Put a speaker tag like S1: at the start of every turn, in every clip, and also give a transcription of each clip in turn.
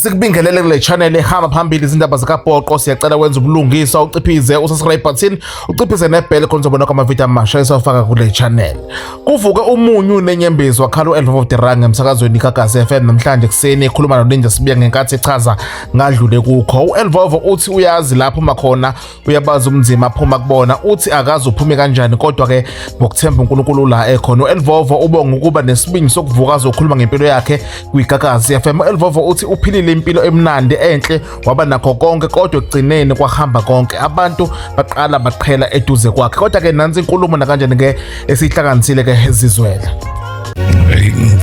S1: Sikubingelele kule channel ehamba phambili izindaba zikapoqo siyacela wenza ubulungisa uciphize usasray button uciphize nebhele khona uzobona kwamavidiyo amasha esawafaka kule channel kuvuke umunyu nenyembezi wakhala u-elf of the rang emsakazweni kagasi fm namhlanje ekuseni ekhuluma noninja sibiya ngenkathi echaza ngadlule kukho u-elvovo uthi uyazi lapho makhona uyabazi umnzima aphuma kubona uthi akazi uphume kanjani kodwa ke ngokuthemba uNkulunkulu la ekhona uElvovo ubonga ukuba nesibindi sokuvuka azokhuluma ngempilo yakhe kwigagazi yafema uElvovo uthi uphilile impilo emnandi enhle waba nakho konke kodwa ekugcineni kwahamba konke abantu baqala baqhela eduze kwakhe kodwa ke nansi inkulumo nakanjani ke esihlakanisile ke ezizwela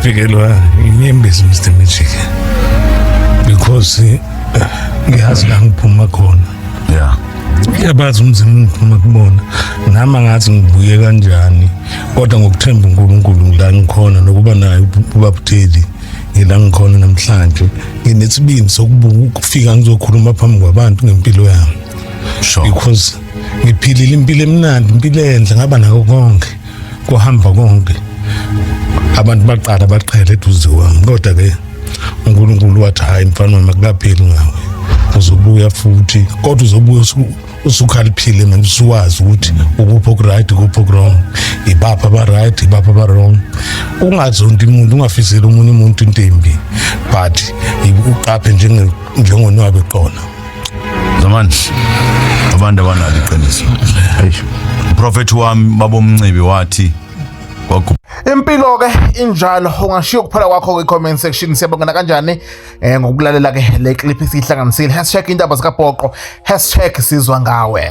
S1: ngifikelwa
S2: inyembezi Mr Magic because eh, ngiyazi la ngiphuma khona yeah yabazi umzimba ungiphuma kubona nami angathi ngibuye kanjani kodwa ngokuthemba uNkulunkulu ngila ngikhona nokuba naye ubabuteli ngila ngikhona namhlanje nginesibindi sokubuka ukufika ngizokhuluma phambi kwabantu ngempilo yami sure because ngiphilile impilo emnandi impilo enhle ngaba nako konke kuhamba konke abantu baqala baqhele eduze kwami kodwa ke uNkulunkulu wathi hayi mfana wami akukapheli ngawe uzobuya futhi kodwa uzobuya usukhaliphile manje usuwazi ukuthi ukuphi okuright ukuphi okurong ibapha abaright ibapha abarong ungazonti umuntu ungafiseli omunye umuntu intembi but uqaphe njengonwabe qona zamandla
S3: abantu abanalo iqiniso uprofethi wami babomncibi wathi kwagu
S1: impilo ke injalo ungashiya ukuphela kwakho kwi comment section siyabongana kanjani eh ngokulalela ke le clip esihlanganisile hashtag indaba zikapoqo hashtag sizwa ngawe